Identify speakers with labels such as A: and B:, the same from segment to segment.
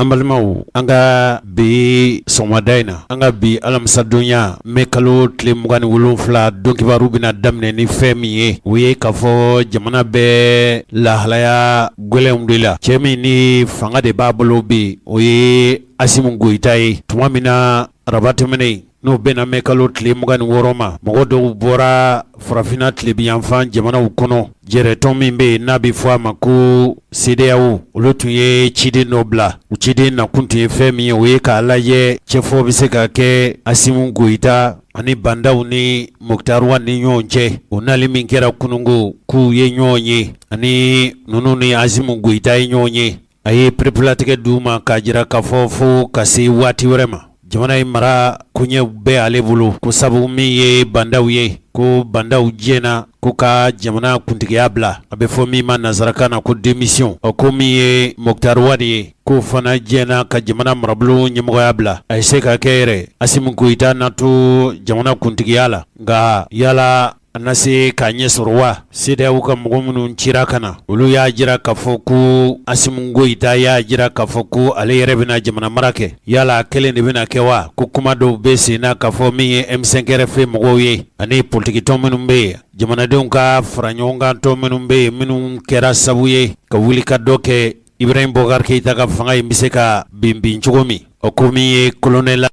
A: An balimaw an ka bi sɔgɔmada in na an ka bi alamisadonya mɛ kalo tile mugan ni wolonfila don kibaru bɛna daminɛ ni fɛn min ye o ye k'a fɔ jamana bɛ lahalaya gɛlɛn de la cɛ min ni fanga de b'a bolo bi o ye asimu goyita ye tuma min na araba tɛmɛnen N'o bɛnna mɛ kalo tile mugan ni wɔɔrɔ ma mɔgɔ dɔw bɔra farafinna tilebinyanfan jamanaw kɔnɔ jɛrɛtɔn min bɛ yen n'a bɛ fɔ a ma ko sedeyawo olu tun ye ciden dɔ bila u ciden nakun tun ye fɛn min ye o ye k'a lajɛ cɛfɔ bɛ se ka kɛ asimu goyita ani bandaw ni moktari wani ɲɔgɔn cɛ u nali min kɛra kununko k'u ye ɲɔgɔn ye ani ninnu ni asimu goyita ye ɲɔgɔn ye A ye pereperelatigɛ di u ma k'a jira k'a fɔ fo ka se waati wɛrɛ ma jamana in mara koɲɛw bɛ ale bolo ko sabu min ye bandaw ye ko bandaw diɲɛna ko ka jamana kuntigiya bila a bɛ fɔ min ma nansarakan na ko démission ko min ye moktari wani ye k'o fana diɲɛna ka jamana marabolo ɲɛmɔgɔya bila a ye se ka kɛ yɛrɛ asimu goyita na to jamana kuntigiya la nka yala A na se k'a ɲɛ sɔrɔ wa sedeyawo ka mɔgɔ minnu cira ka na olu y'a jira k'a fɔ ko asimu goyita y'a jira k'a fɔ ko ale yɛrɛ bɛna jamana mara kɛ yala a kelen de bɛna kɛ wa ko kuma dɔw bɛ sen na k'a fɔ min ye M5-RFP mɔgɔw ye ani politikitɔn minnu bɛ yen jamanadenw ka faraɲɔgɔnkantɔn minnu bɛ yen minnu kɛra sabu ye ka wuli ka dɔ kɛ ibrahim bubakari keyita ka fanga in bɛ se ka bin bin cogo min o ko min ye kolonɛli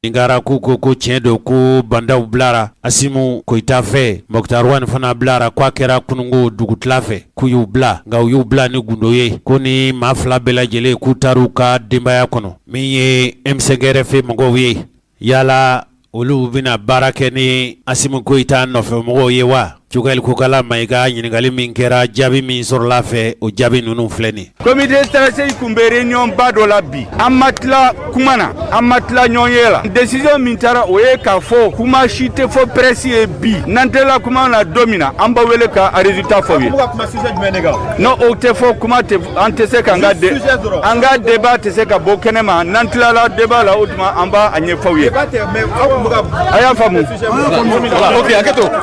A: Ninkara ko ko ko tiɲɛ don ko bandaw bilara asimu goyita fɛ moktari wani fana bilara k'a kɛra kununko dugutila fɛ k'u y'u bila nka u y'u bila ni gundo ye ko nin maa fila bɛɛ lajɛlen k'u taara u ka denbaya kɔnɔ min ye M5-RFP mɔgɔw ye yala olu bɛna baara kɛ ni asimu goyita nɔfɛmɔgɔw ye wa Cogɛli kokala mayiga ɲininkali min kɛra jaabi min sɔrɔla a fɛ o jaabi ninnu filɛ nin comité
B: stratégique tun bɛ réunion ba dɔ la bi an ma tila kuma na an ma tila ɲɔgɔnye la décision min taara o ye k'a fɔ kuma si tɛ fɔ presse ye bi n'an tilala kuma na don min na an b'aw wele k'a résultat fɔ aw ye n' o tɛ fɔ kuma an tɛ se ka an ka de an ka débat tɛ se ka bɔ kɛnɛ ma n'an tilala débat la o tuma an b'a ɲɛfɔ aw ye a y'a faamu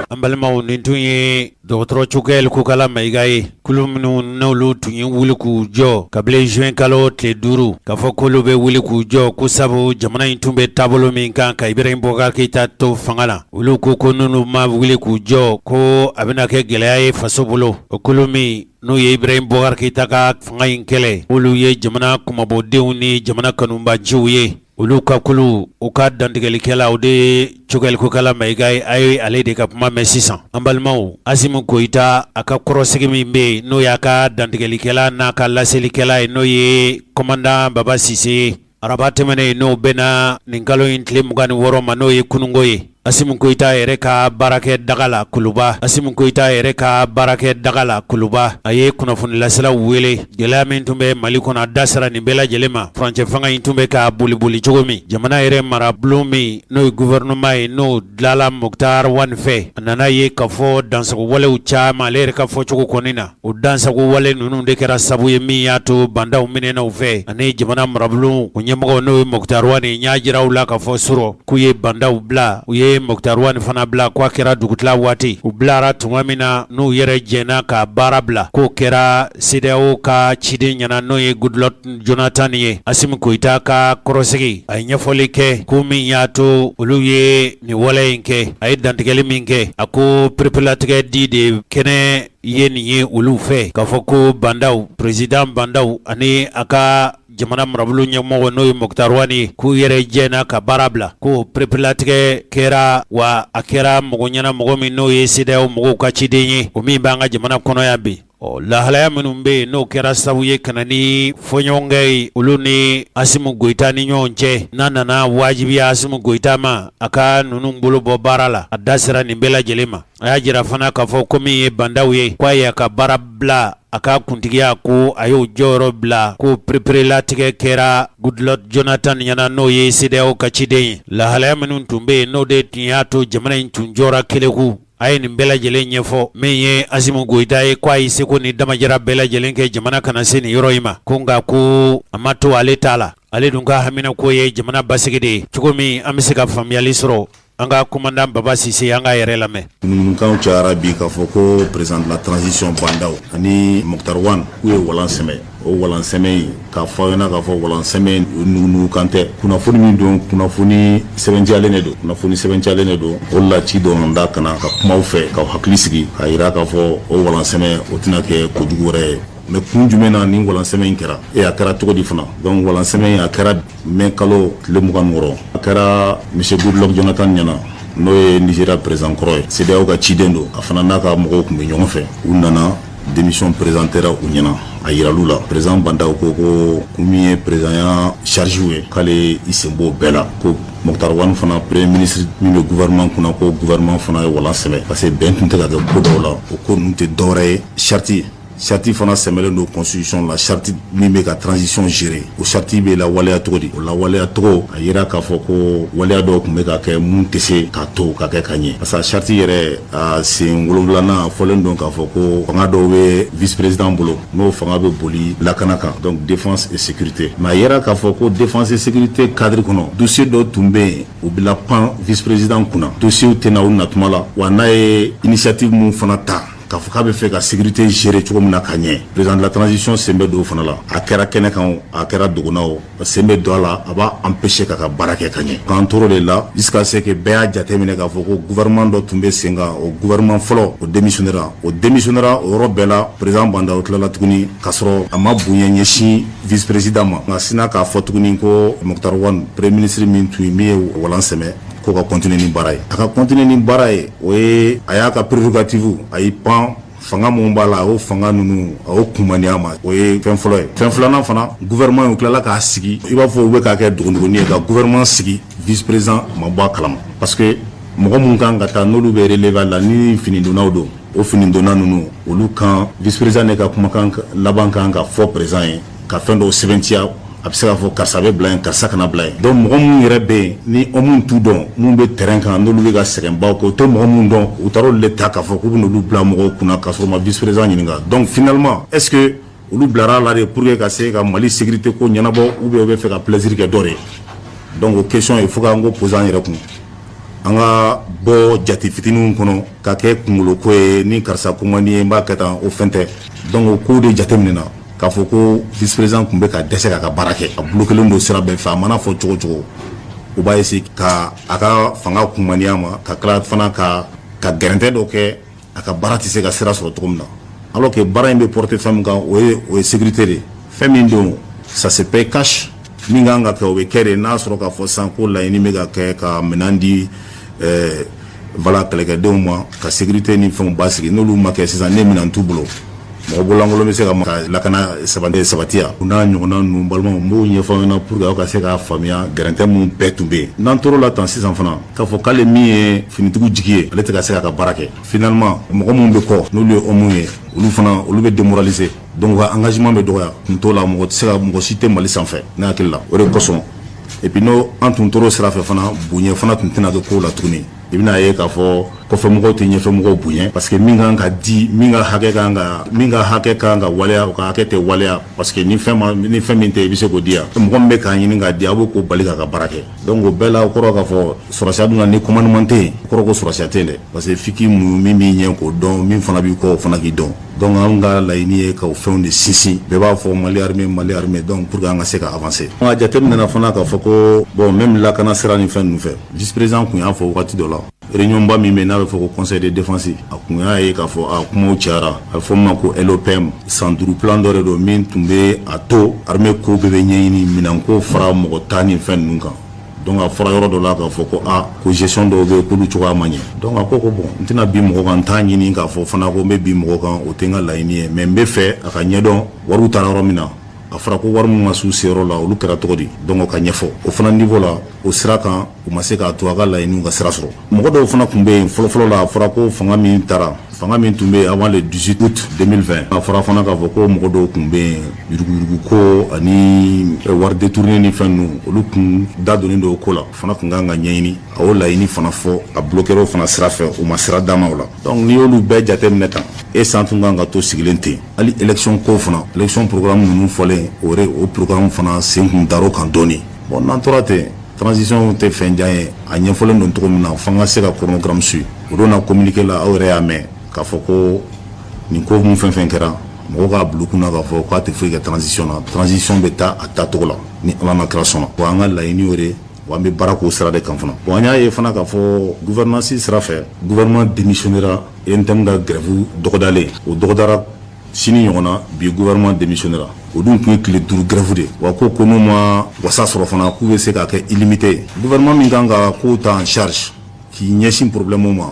B: An balimaw nin
A: tun ye dɔgɔtɔrɔ cogɛli kokala mayiga ye kulu minnu n'olu tun ye wuli k'u jɔ kabini zuwɛnkalo tile duuru k'a fɔ k'olu bɛ wuli k'u jɔ ko sabu jamana in tun bɛ taabolo min kan ka ibrahim bubakari keyita to fanga la olu ko ko n'olu ma wuli k'u jɔ ko a bɛna kɛ gɛlɛya ye faso bolo o kulu min n'o ye ibrahim bubakari keyita ka fanga in kɛlɛ olu ye jamana kunmabɔdenw ni jamana kanubaanciw ye Olu ka kulu u ka dantigɛlikɛla o de ye Cogɛli Kokala Mayiga ye a ye ale de ka kuma mɛn sisan an balimaw Asimi Goyita a ka kɔrɔsigi min bɛ yen n'o y'a ka dantigɛlikɛla n'a ka laselikɛla ye n'o ye komandan Baba Sise ye araba tɛmɛnen n'o bɛnna nin kalo in tile mugan ni wɔɔrɔ ma n'o ye kunungo ye Asimi Goyita yɛrɛ ka baarakɛ daga la kuluba Asimi Goyita yɛrɛ ka baarakɛ daga la kuluba a ye kunnafonilaselaw wele gɛlɛya min tun bɛ Mali kɔnɔ a da sera nin bɛɛ lajɛlen ma furancɛ fanga in tun bɛ ka boliboli cogo min jamana yɛrɛ marabulon min n'o ye gouvernement ye n'o dilanla Mukutari Wan fɛ a nana ye k'a fɔ dansagowalew caman ale yɛrɛ ka fɔcogo kɔni na O dansagowale ninnu de kɛra sababu ye min y'a to Bandaw minɛna u fɛ ani jamana marabulon o ɲɛmɔgɔ n'o ye Mukutari Wan n y'a jira aw la k'a fɔ surɔ k'u ye Bandaw bila u ye Mukutari Wan fana bila k'a kɛra dugutila waati u bilara tuma min na n'u yɛrɛ jɛnna ka baara bila k'o kɛra CEDEAO ka ciden ɲɛna n'o ye Goodluck Jonathan ye Asimi Goyita ka kɔrɔsigi a ye ɲɛfɔli kɛ ko min y'a to olu ye nin wale in kɛ a ye dantigɛli min kɛ a ko pereperelatigɛli de kɛnen ye nin ye olu fɛ k'a fɔ ko Bandaw président Bandaw ani a ka jamana marabulon ɲɛmɔgɔ n'o ye Mukutari Wan ye k'u yɛrɛ jɛnna ka baara bila ko pereperelatigɛ kɛra wa a kɛra mɔgɔ ɲɛna mɔgɔ min n'o ye CEDEAO mɔgɔw ka ciden ye o min b'an ka jamana kɔnɔ yan bi ɔ lahalaya minnu bɛ yen n'o kɛra sabu ye ka na ni fɔɲɔgɔnkɔ ye olu ni Asimi Goyita ni ɲɔgɔn cɛ n'a nana wajibiya Asimi Goyita ma a ka ninnu bolo bɔ baara la a da sera nin bɛɛ lajɛlen ma A y'a jira fana k'a fɔ ko min ye Bandaw ye k' a y'a ka baara bila a ka kuntigiya ko a y'o jɔyɔrɔ bila ko pereperelatigɛ kɛra Goodluck Jonathan ɲɛna n'o ye CEDEAO ka ciden ye lahalaya minnu tun bɛ yen n'o de tun y'a to jamana in tun jɔra kɛlɛku a ye nin bɛɛ lajɛlen ɲɛfɔ min ye Asimi Goyita ye k' a ye seko ni damajara bɛɛ lajɛlen kɛ jamana kana se nin yɔrɔ in ma ko nka ko a ma to ale ta la ale dun ka haminanko ye jamana basigi de ye cogo min an bɛ se ka faamuyali sɔrɔ An ka komandan Baba Sise an k'a yɛrɛ lamɛn. Ŋunuŋunukanw cayara
C: bi k'a fɔ ko président de la transition Bandaw ani Muktar Wan k'u ye walan sɛmɛ. O walan sɛmɛ in k'a fɔ aw ɲɛna k'a fɔ walan sɛmɛ in o nugunugukan tɛ. Kunnafoni min don, kunnafoni sɛbɛntiyalen de don. Kunnafoni sɛbɛntiyalen de don. O de la ci donna n da ka na ka kuma aw fɛ, k'aw hakili sigi, k'a yira k'a fɔ o walan sɛmɛ o tɛna kɛ ko jugu wɛrɛ ye. Mais kun jumɛn na nin walan sɛmɛ in kɛra? Et a kɛra cogo di fana? Donc walan sɛmɛ in a kɛra Mɛ kalo tile mugan wɔɔrɔ a kɛra misidulɔjtanɲɛna n'o ye ni sera perezkɔrɔ ye sew ka ciden don a fana n'a ka mɔgɔw tun bɛ ɲɔgɔn fɛ u nana denmi perezan kɛra u ɲɛna a yili la perez banda ko ko kun min ye perezya sariyarijsiww ye k'ale i senbon bɛɛ la ko mɔgɔtarwan fana perere minisiri min bɛ guɛrman kunna ko guɛrman fana ye wa sɛbɛn parce que bɛn tun tɛ ka kɛ ko dɔw la o ko n tɛ dɔwɛrɛ ye sariyati ye Charte fana sɛmɛlen don constitution la charte min bɛ ka transition gérer o charte bɛ lawaleya cogo di o lawaleya cogo a jira k'a fɔ ko waleya dɔw tun bɛ ka kɛ mun tɛ se k'a to ka kɛ ka ɲɛ parce que charte yɛrɛ a sen wolonwulanan a fɔlen don k'a fɔ ko fanga dɔw bɛ vice président bolo n'o fanga bɛ boli lakana kan donc défense et sécurité mais a jira k'a fɔ ko défense et sécurité cadre kɔnɔ dossier dɔw tun bɛ yen u bɛ lapan vice président kunna dossierw tɛ na u natuma la wa n'a ye initiative minnu fana ta K'a fɔ k'a bɛ fɛ ka sécurité gérer cogo min na ka ɲɛ président de la transition sen bɛ don o fana la, a kɛra kɛnɛ kan o, a kɛra dogo na o, a sen bɛ don a la, a b'a empêcher k'a ka baara kɛ ka ɲɛ, k'an tor'o de la jusqu'à ce que bɛɛ y'a jate minɛ k'a fɔ ko gouvernement dɔ tun bɛ sen kan, o gouvernement fɔlɔ o démissionner ra, o démissionner ra o yɔrɔ bɛɛ la, président Bah N'Daw tilala tuguni k'a sɔrɔ a ma bonya ɲɛsin vice président ma, nka sinna k'a fɔ tuguni ko Moctar Ouane premier ministre min tun ye min ye walan sɛmɛ ko ka continuer ni baara ye a ka continuer ni baara ye o ye a y'a ka prérogative a y'i pan fanga minnu b'a la a y'o fanga ninnu a y'o kunmaniya ma o ye fɛn fɔlɔ ye fɛn filanan fana gouvernement u tilala k'a sigi i b'a fɔ u bɛ k'a kɛ dogondogoni ye ka gouvernement sigi vice président ma bɔ a kalama parce que mɔgɔ minnu kan ka taa n'olu bɛ relever a la ni finidonnaw don o finidonna ninnu olu kan vice-président de ka kumakan laban kan ka fɔ président ye ka fɛn dɔw sɛbɛntiya a bɛ se k'a fɔ karisa bɛ bila yen karisa kana bila yen donc mɔgɔ minnu yɛrɛ bɛ yen ni o minnu t'u dɔn minnu bɛ terrain kan n'olu bɛ ka sɛgɛnbaw kɛ u tɛ mɔgɔ minnu dɔn u taara olu de ta k'a fɔ k'u bɛ n'olu bila mɔgɔw kunna k'a sɔrɔ u ma vice-président ɲininka donc finalement est-ce que olu bilara a la de pour que ka se ka Mali sécurité ko ɲɛnabɔ ou bien u bɛ fɛ ka plaisir kɛ dɔ de ye donc o question il faut k'an k'o poser an yɛrɛ kun an ka bɔ jate fitininw kɔnɔ ka kɛ kungolo ko ye ni karisa ko man di n ye n b'a kɛ tan o fɛn tɛ donc o ko de jate minɛna k'a fɔ ko vice président tun bɛ ka dɛsɛ k'a ka baara kɛ a bolo kelen don sira bɛɛ fɛ a mana fɔ cogo cogo u b'a essayer ka a ka fanga kunmaniya ma ka tila fana ka ka gɛrɛntɛ dɔ kɛ a ka baara tɛ se ka sira sɔrɔ cogo min na alors que baara in bɛ porter fɛn min kan o ye o ye sécurité de ye fɛn min don ça se paye cash min kan ka kɛ o bɛ kɛ de n'a sɔrɔ k'a fɔ sisan ko laɲini bɛ ka kɛ ka minɛn di ɛɛ voilà kɛlɛkɛdenw ma ka sécurité ni fɛnw basigi n'olu ma kɛ sisan ne minɛn t'u bolo mɔgɔ bololankolon bɛ se ka ka lakana sabati sabatiya o n'a ɲɔgɔnna ninnu balimaw n b'o ɲɛfɔ aw ɲɛna pour que aw ka se k'a faamuya gɛrɛntɛ minnu bɛɛ tun bɛ yen n'an tor'o la tan sisan fana k'a fɔ k'ale min ye finitigiw jigi ye ale tɛ ka se k'a ka baara kɛ finalement mɔgɔ minnu bɛ kɔ n'olu ye homme ye olu fana olu bɛ démoraliser donc u ka engagement bɛ dɔgɔya kun t'o la mɔgɔ tɛ se ka mɔgɔ si tɛ Mali sanfɛ ne hakili la o de kosɔn et puis n'o an tun tor'o sira fɛ fana bonya fana tun tɛna kɛ kow la tuguni i bɛn'a ye k'a fɔ kɔfɛmɔgɔw tɛ ɲɛfɛmɔgɔw bonya parce que min kan ka di min ka hakɛ kan ka min ka hakɛ kan ka waleya o ka hakɛ tɛ waleya parce que ni fɛn ma ni fɛn min tɛ i bɛ se k'o di yan mɔgɔ min bɛ k'a ɲini k'a di a b'o k'o bali k'a ka baara kɛ Don ko bɛɛ la kɔrɔ k'a fɔ suda dun ni kɔnman ɲuman tɛ kɔrɔ suda tɛ dɛ parce que fiki mun min b'i ɲɛ k'o dɔn min fana b'i kɔ o fana k'i dɔn dɔnku an ka layiɲiniini ye ka fɛnw de sinsin bɛɛ b'a fɔ mali bɛ mali bɛ dɔn pur an ka se ka fase jate min fana k'a fɔ ko bɔn n bɛ lakana siran ni fɛn fɛ jisperez tun y'a fɔ waati dɔ la Réunion ba min bɛ n'a bɛ fɔ ko conseil de défense a kun y'a ye k'a fɔ a kumaw cayara a bɛ fɔ min ma ko LOPM san duuru plan dɔ de don min tun bɛ a to armée ko bɛɛ bɛ ɲɛɲini minɛnko fara mɔgɔta ni fɛn ninnu kan donc a fɔra yɔrɔ dɔ la k'a fɔ ko aa ko gestion dɔw bɛ yen k'olu cogoya ma ɲɛ donc a ko ko bon n tɛna bin mɔgɔ kan n t'a ɲini k'a fɔ fana ko n bɛ bin mɔgɔ kan o tɛ n ka laɲini ye mais n bɛ fɛ a ka ɲɛdɔn wariw taara yɔrɔ min na a fɔra ko wari min ma s'u seyɔrɔ la olu kɛra cogo di donc o ka ɲɛfɔ o fana niveau la o sira kan u ma se k'a to a ka laɲiniw ka sira sɔrɔ mɔgɔ dɔw fana tun bɛ yen fɔlɔfɔlɔ la a fɔra ko fanga min taara fanga min tun bɛ yen avant le 18 août 2020 a fɔra fana k'a fɔ ko mɔgɔ dɔw tun bɛ yen yuruguyurugu ko ani eh, wari détourné ni fɛn ninnu olu tun da donnen don o ko la o fana tun ka kan ka ɲɛɲini a y'o laɲini fana fɔ a bloquéra o fana sira fɛ u ma sira d'a ma o la donc n'i y'olu bɛɛ jateminɛ tan est-ce an tun ka kan ka to sigilen ten hali élection ko fana élection programme ninnu fɔlen o o programme fana sen tun dar'o kan dɔɔni bon n'an tora ten transition tɛ fɛn jan ye a ɲɛfɔlen don cogo min na fo an ka se ka chronogramme suivre o don na communiqué la aw yɛrɛ y'a mɛn k'a fɔ ko nin ko mun fɛn fɛn kɛra mɔgɔw k'a bila u kunna k'a fɔ k'a tɛ foyi kɛ transition na transition bɛ taa a taacogo la ni ala n'a kira sɔnna wa an ka laɲini y'o de ye wa an bɛ baara k'o sira de kan fana bon an y'a ye fana k'a fɔ gouvernance sira fɛ gouvernement démissionnera UNTM ka grève dɔgɔdalen o dɔgɔdara sini ɲɔgɔn na bi gouvernement démissionnera o dun tun ye tile duuru grève de wa ko ko n'u ma wasa sɔrɔ fana k'u bɛ se k'a kɛ illimité ye gouvernement min kan ka kow ta en charge k'i ɲɛsin problème ma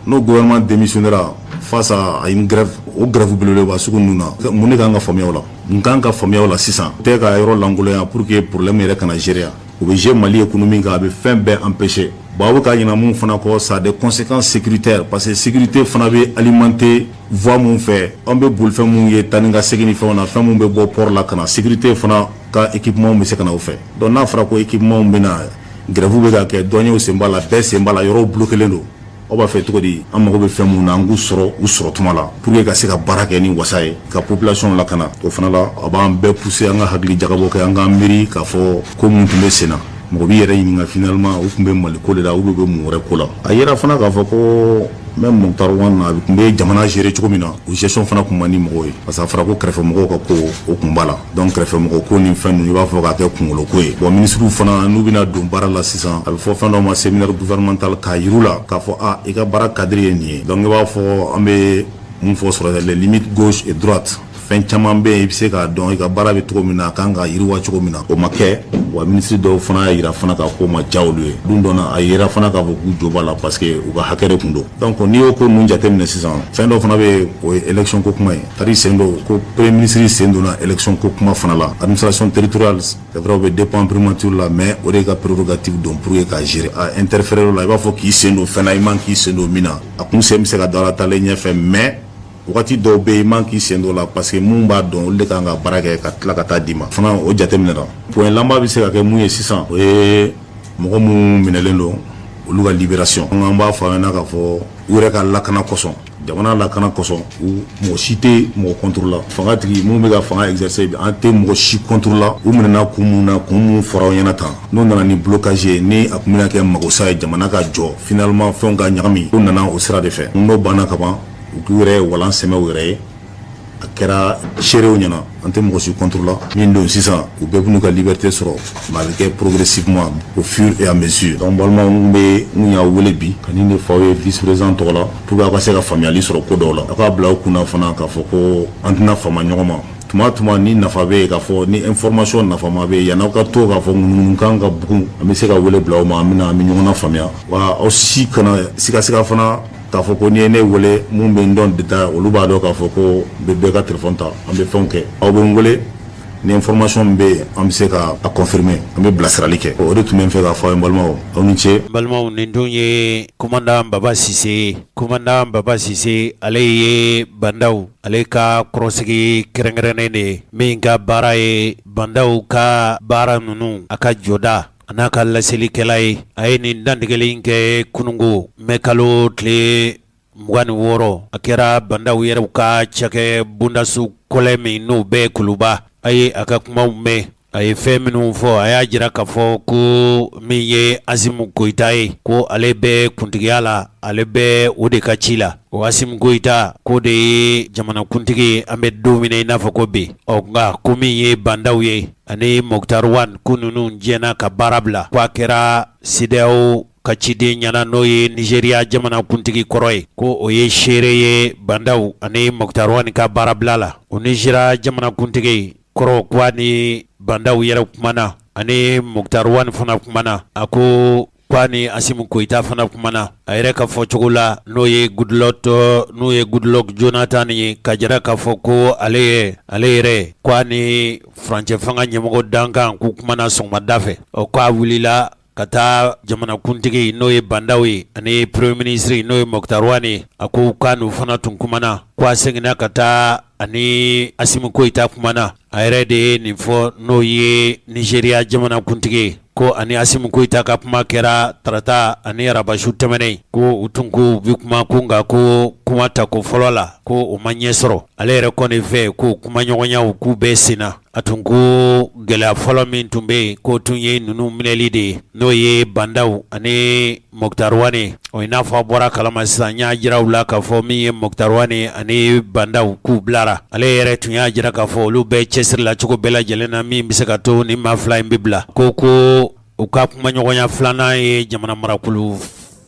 C: n'o gouvernement démissionnera face à une grève o grève belebeleba sugu ninnu na mun de kan ka faamuya o la min kan ka faamuya o la sisan tɛ ka yɔrɔ lankolonya pour que problème yɛrɛ kana gérer o bɛ jouer mali économie kan a bɛ fɛn bɛɛ empêcher bon a bɛ ka ɲinɛ mun fana kɔ ça a des conséquences sécuritaires parce que sécurité fana bɛ alimenter voie minnu fɛ an bɛ bolifɛn minnu ye taa ni ka segin ni fɛnw na fɛn minnu bɛ bɔ pɔri la ka na sécurité fana ka équipement bɛ se ka na o fɛ donc n'a fɔra ko équipement bɛ na grève bɛ ka kɛ douanew sen b'a la bɛɛ sen b'a la yɔrɔw bloquélen don aw b'a fɛ cogo di an mago bɛ fɛn minnu na an k'u sɔrɔ u sɔrɔ tuma la pour que ka se ka baara kɛ ni wasa ye ka population lakana o fana la a b'an bɛɛ pousser an ka hakili jagabɔ kɛ an k'an miiri k'a fɔ ko minnu tun bɛ sen na mɔgɔ b'i yɛrɛ ɲininka finalement u tun bɛ mali ko de la u bɛ bɛ mun wɛrɛ ko la a yera fana k'a fɔ ko même Moctar Ouane a tun bɛ jamana gérer cogo min na o gestion fana tun man di mɔgɔw ye parce que a fɔra ko kɛrɛfɛmɔgɔw ka ko o tun b'a la donc kɛrɛfɛmɔgɔ ko ni fɛn ninnu i b'a fɔ k'a kɛ kunkolo ko ye bon ministrew fana n'u bɛna don baara la sisan a bɛ fɔ fɛn dɔ ma séminaire gouvernemental k'a yir'u la k'a fɔ i ka baara cadre ye nin ye donc i b'a fɔ an bɛ min fɔ sɔrɔ les limites gauche et droite fɛn caman bɛ yen i bɛ se k'a dɔn i ka baara bɛ cogo min na a kan ka yiriwa cogo min na o ma kɛ wa ministre dɔw fana y'a yira fana ka ko ma diya olu ye don dɔ la a yira fana k'a fɔ k'u jo b'a la parce que u ka hakɛ de tun don donc n'i y'o ko ninnu jateminɛ sisan fɛn dɔ fana bɛ yen o ye élection ko kuma ye tari sen don ko premier ministre sen donna élection ko kuma fana la administration territoriale c'est vrai o bɛ dépend primature la mais o de ka prérogative don pour que k'a gérer a interférer o la i b'a fɔ k'i sen don fɛn na i man k'i sen don min na a kun sen bɛ se ka don a la taalen ɲɛfɛ mais Waati dɔw bɛ yen i man k'i sen don la parce que minnu b'a dɔn olu de kan ka baara kɛ ka tila ka taa d'i ma fana o jateminɛ na point laban bɛ se ka kɛ mun ye sisan o ye mɔgɔ minnu minɛlen don olu ka libération an b'a fɔ an ɲɛna k'a fɔ u yɛrɛ ka lakana kɔsɔn jamana lakana kɔsɔn u mɔgɔ si tɛ mɔgɔ contre la fangatigi minnu bɛ ka fanga exercer an tɛ mɔgɔ si contre la u minɛna kun minnu na kun minnu fɔra aw ɲɛna tan n'o nana ni blocage ye ni a tun bɛ kɛ magosa ye jamana ka jɔ finalement fɛnw ka ɲagami u nana o sira de fɛ n'o banna kaban u k'u yɛrɛ ye walan sɛmɛ u yɛrɛ ye a kɛra seerew ɲɛna an tɛ mɔgɔ si contre la min don sisan u bɛɛ b'u ka liberté sɔrɔ mais a bɛ kɛ progressivement au fur et à mesure donc balimaw n bɛ n y'aw wele bi ka nin de fɔ aw ye vice président tɔgɔ la pour que aw ka se ka faamuyali sɔrɔ ko dɔw la aw k'a bila aw kunna fana k'a fɔ ko an tɛna fama ɲɔgɔn ma tuma tuma ni nafa bɛ yen k'a fɔ ni information nafama bɛ yen yanni aw ka to k'a fɔ ŋunuŋunukan ka bugun an bɛ se ka wele bila aw ma an bɛna an bɛ ɲɔgɔn na faamuya wa aw si kana sigasiga fana K'a fɔ ko n'i ye ne wele minnu bɛ n dɔn détail olu b'a dɔn k'a fɔ ko n bɛ bɛɛ ka téléphone ta an bɛ fɛnw kɛ aw bɛ n wele ni information min bɛ yen an bɛ se ka a confirmer an bɛ bilasirali kɛ o de tun bɛ n fɛ k'a fɔ aw ye balimaw aw ni ce balimaw nin tun
A: ye commandant Baba Sise ye commandant Baba Sise ale ye bandaw ale ka kɔrɔsigi kɛrɛnkɛrɛnnen de ye min ka baara ye bandaw ka baara ninnu a ka jɔda A n'a ka laselikɛla ye a ye nin dantigɛli in kɛ kununko mɛ kalo tile mugan ni wɔɔrɔ a kɛra bandaw yɛrɛ ka cɛkɛ bondaso kɔlɛ min n'o bɛ kuluba a ye a ka kumaw mɛn a ye fɛn minnu fɔ a y'a jira k'a fɔ ko min ye Asimu Goyita ye ko ale bɛ kuntigiya la ale bɛ o de ka ci la o Asimu Goyita ko o de ye jamanakuntigi an bɛ don min na i n'a fɔ ko bi ɔ nka ko min ye bandaw ye Ani Moktar Wan ko ninnu jɛnna ka baara bila k'a kɛra CEDEAO ka ciden ɲɛna n'o ye Nigeria jamanakuntigi kɔrɔ ye ko o ye seere ye bandaw ani Moktar Wan ka baara bila la o Nigeria jamanakuntigi kɔrɔ ko a ni bandaw yɛrɛ kumana a ni Moktar Wan fana kumana a ko Ko a ni Asimu Goyita fana kumana a yɛrɛ ka fɔ cogo la n'o ye Goodluck n'o ye Goodluck Jonathan ye k'a jira k'a fɔ ko ale yɛrɛ ale yɛrɛ ko a ni furancɛ fanga ɲɛmɔgɔ dankan k'u kumana sɔgɔmada fɛ o k'a wulila ka taa jamanakuntigi n'o ye bandaw ye ani premier ministre n'o ye Moktar Wan ye a ko k'a n'u fana tun kumana ko a seginna ka taa a ni asimi goyita kumana a yɛrɛ de ye nin fɔ n'o ye nizeriya jamanakuntigi ko a ni asimi goyita ka kuma kɛra tarata ani araba su tɛmɛnen ko u tun ko u bɛ kuma ko nka ko kuma ta ko fɔlɔ la ko o ma ɲɛ sɔrɔ ale yɛrɛ kɔni fɛ ko kumaɲɔgɔnyaw k'u bɛ sen na A tun ko gɛlɛya fɔlɔ min tun bɛ yen k'o tun ye ninnu minɛli de ye n'o ye bandaw ani moktar wane i n'a fɔ a bɔra kalama sisan n y'a jira aw la k'a fɔ min ye moktar wane ani bandaw k'u bilara ale yɛrɛ tun y'a jira k'a fɔ olu bɛɛ cɛsiri la cogo bɛɛ lajɛlen na min bɛ se ka to nin maa fila in bɛ bila ko ko u ka kumaɲɔgɔnya filanan ye jamana marakulu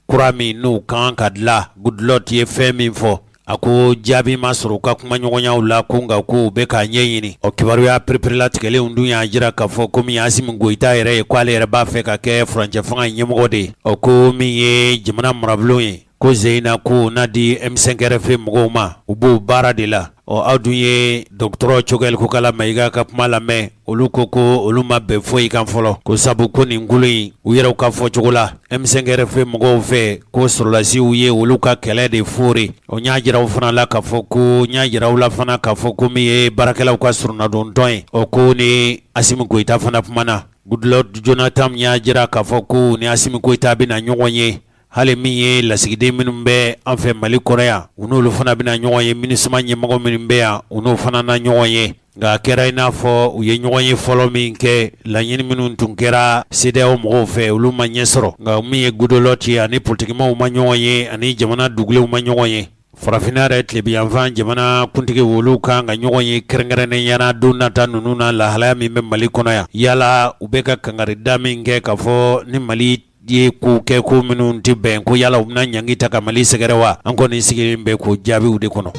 A: kura min n'u kan ka dilan Goodluck ye fɛn min fɔ a ko jaabi ma sɔrɔ u ka kumaɲɔgɔnyaw la ko nka ko u bɛ k'a ɲɛɲini ɔ kibaruya pereperelatigɛlenw dun y'a jira k'a fɔ ko min ye Asimi Goyita yɛrɛ ye k'ale yɛrɛ b'a fɛ ka kɛ furancɛ fanga ɲɛmɔgɔ de ye ɔ ko min ye jamana marabulon ye ko Zeyina ko n'a di M5 RFP mɔgɔw ma u b'o baara de la ɔ aw dun ye dɔgɔtɔrɔ Cogɛli Kokala Mayiga ka kuma lamɛn olu ko ko olu ma bɛn foyi kan fɔlɔ ko sabu ko nin kulu in u yɛrɛw ka fɔ cogo la M5 RFP mɔgɔw fɛ ko sɔrɔlasiw ye olu ka kɛlɛ de foori o n y'a jira aw fana la k'a fɔ ko n y'a jira aw la fana k'a fɔ ko min ye baarakɛlaw ka soronadontɔn ye o k'u ni asimi goyita fana kumana Goodluck Jonathan y'a jira k'a fɔ ko u ni asimi goyita bɛna ɲɔgɔn ye Hali min ye lasigiden minnu bɛ an fɛ mali kɔnɔ yan u n'olu fana bɛna ɲɔgɔn ye MINUSMA ɲɛmɔgɔ minnu bɛ yan u n'o fana na ɲɔgɔn ye nka a kɛra i n'a fɔ u ye ɲɔgɔn ye fɔlɔ min kɛ laɲini minnu tun kɛra CEDEAO mɔgɔw fɛ olu ma ɲɛ sɔrɔ nka min ye Goodluck ani politikimaaw ma ɲɔgɔn ye ani jamana dugulenw ma ɲɔgɔn ye farafinna yɛrɛ tilebinyanfan jamana kuntigiw olu kan ka ɲɔgɔn ye kɛrɛnkɛrɛnnenya la don nata ninnu na lahalaya min bɛ mali kɔnɔ yan yala u bɛ ka kankari da min kɛ k'a fɔ ni mali ye ko kɛ ko minnu tɛ bɛn ko yala u bɛna ɲangi ta ka mali sɛgɛrɛ wa an kɔni sigilen bɛ k'o jaabiw de kɔnɔ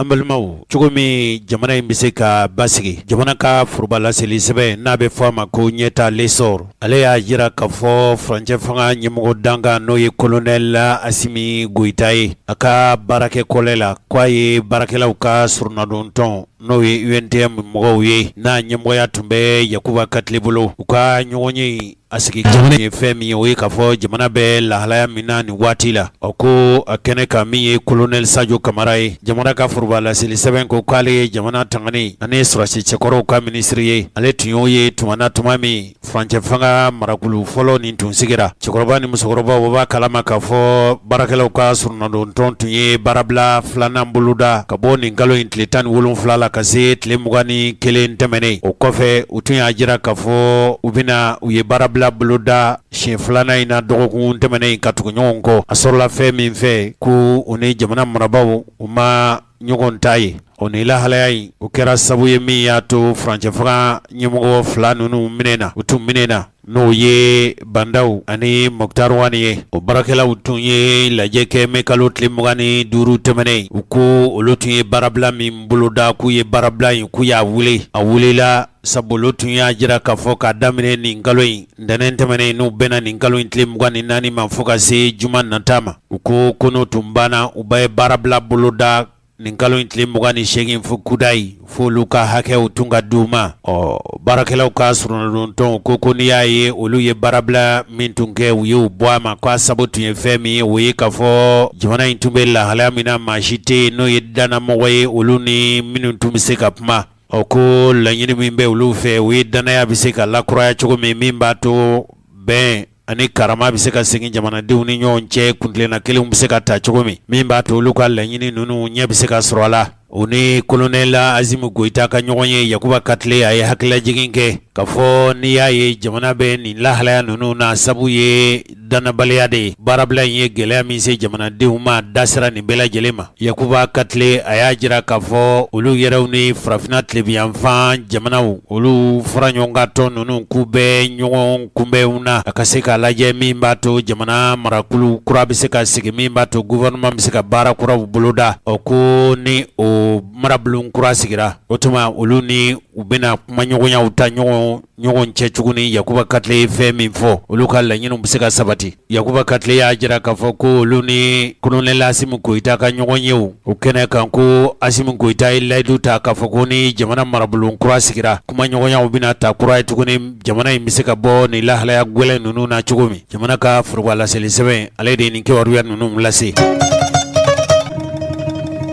A: An balimaw cogo min jamana in bɛ se ka basigi jamana ka foroba laseli sɛbɛn n'a bɛ fɔ a ma ko ɲɛtaa L'Essor ale y'a jira k'a fɔ furancɛ fanga ɲɛmɔgɔ dankan n'o ye kolonɛli asimi goyita ye a ka baarakɛ kɔlɛ la k'a ye baarakɛlaw ka soronadontɔn n'o ye UNTM mɔgɔw ye n'a ɲɛmɔgɔya tun bɛ yakuba katile bolo u ka ɲɔgɔn ye A sigi jamana ye fɛn min ye o ye k'a fɔ jamana bɛ lahalaya min na nin waati la a ko a kɛnɛ kan min ye kolonɛli sajo kamara ye jamana ka forobalaseli sɛbɛn ko k'ale ye jamana tangani ani sɔrɔdasi cɛkɔrɔw ka minisiri ye ale tun y'o ye tuma na tuma min furancɛ fanga marakulu fɔlɔ nin tun sigira cɛkɔrɔba ni musokɔrɔbaw b'a kalama k'a fɔ baarakɛlaw ka soronadontɔn tun ye baarabila filanan boloda ka bɔ nin kalo in tile tan ni wolonfila la ka se tile mugan ni kelen tɛmɛnen o kɔfɛ tun y'a jira k'a fɔ u bɛna u ye baarabila boloda siɲɛ filanan in na dɔgɔkun tɛmɛnen in ka tugu ɲɔgɔn kɔ a sɔrɔla fɛn min fɛ ko u ni jamana marabagaw u ma ɲɔgɔn ta ye o ni lahalaya in o kɛra sabu ye min y'a to furancɛfanga ɲɛmɔgɔ fila ninnu minɛna u tun minɛna N'o ye ba ndaw ani moktar wani ye o baarakɛlaw tun ye lajɛ kɛ mɛ kalo tile mugan ni duuru tɛmɛnen u ko olu tun ye baarabila min boloda k'u ye baarabila in k'u y'a wuli a wulila sabu olu tun y'a jira k'a fɔ k'a daminɛ nin kalo in ntɛnɛn tɛmɛnen n'o bɛnna nin kalo in tile mugan ni naani ma fo ka se juma nata ma u ko ko n'o tun banna u bɛ baarabila boloda nin kalo in tile mugan ni seegin fo kudayi f'olu ka hakɛw tun ka di u ma ɔ baarakɛlaw ka soronadontɔn ko ko n'i y'a ye olu ye baarabila min tun kɛ u y'u bɔ a ma k'a sabu tun ye fɛn min ye o ye k'a fɔ jamana in tun bɛ lahalaya min na maa si tɛ yen n'o ye dannamɔgɔ ye olu ni minnu tun bɛ se ka kuma ɔ ko laɲini min bɛ olu fɛ o ye dannaya bɛ se ka lakuraya cogo min min b'a to bɛn ani karama bɛ se ka segin jamanadenw ni ɲɔgɔn cɛ kuntilenna kelenw bɛ se ka ta cogo min min b'a to olu ka laɲini ninnu ɲɛ bɛ se ka sɔrɔ a la u ni kolonɛli asimu goyita ka ɲɔgɔn ye yakuba katile a ye hakililajigin kɛ k'a fɔ n'i y'a ye jamana bɛ nin lahalaya ninnu na sabu ye dannabaliya de ye baarabila in ye gɛlɛya min se jamanadenw ma dasira nin bɛɛ lajɛlen ma Yakuba katile a y'a jira k'a fɔ olu yɛrɛw ni farafinna tilebinyanfan jamanaw olu fara ɲɔgɔn kan tɔn ninnu k'u bɛ ɲɔgɔn kunbɛnw na a ka se k'a lajɛ min b'a to jamana marakulu kura bɛ se ka sigi min b'a to gouvernement bɛ se ka baara kuraw boloda ɔ ko ni o marabulon kura sigira o tuma olu ni u bɛna kumaɲɔgɔnyaw ta ɲɔgɔn ɲɔgɔn cɛ tuguni yakuba katile ye fɛn min fɔ olu ka laɲiniw bɛ se ka sabati yakuba katile y'a jira k'a fɔ ko olu ni kolonɛli asimu goyita ka ɲɔgɔn yew o kɛnɛ kan ko asimu goyita ye layidu ta k'a fɔ ko ni jamana marabulon kura sigira kumaɲɔgɔnyaw bɛna ta kura ye tuguni jamana in bɛ se ka bɔ nin lahalaya gwɛlɛn ninnu na cogo min jamana ka forobalaseli sɛbɛn ale de ye nin kibaruya ninnu lase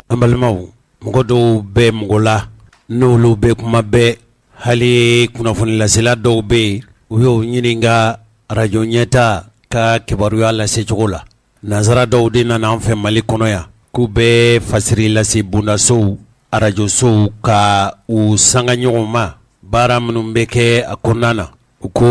A: an balimaw mɔgɔ dɔw bɛ mɔgɔ la n'olu bɛ kuma bɛɛ Hali kunnafoni lasela dɔw bɛ yen u y'o ɲininka arajo ɲɛtaa ka kibaruya lase cogo la nanzara dɔw de nana an fɛ mali kɔnɔ yan k'u bɛ fasiri lase bondasow arajosow ka u sanga ɲɔgɔn ma baara minnu bɛ kɛ a kɔnɔna na u ko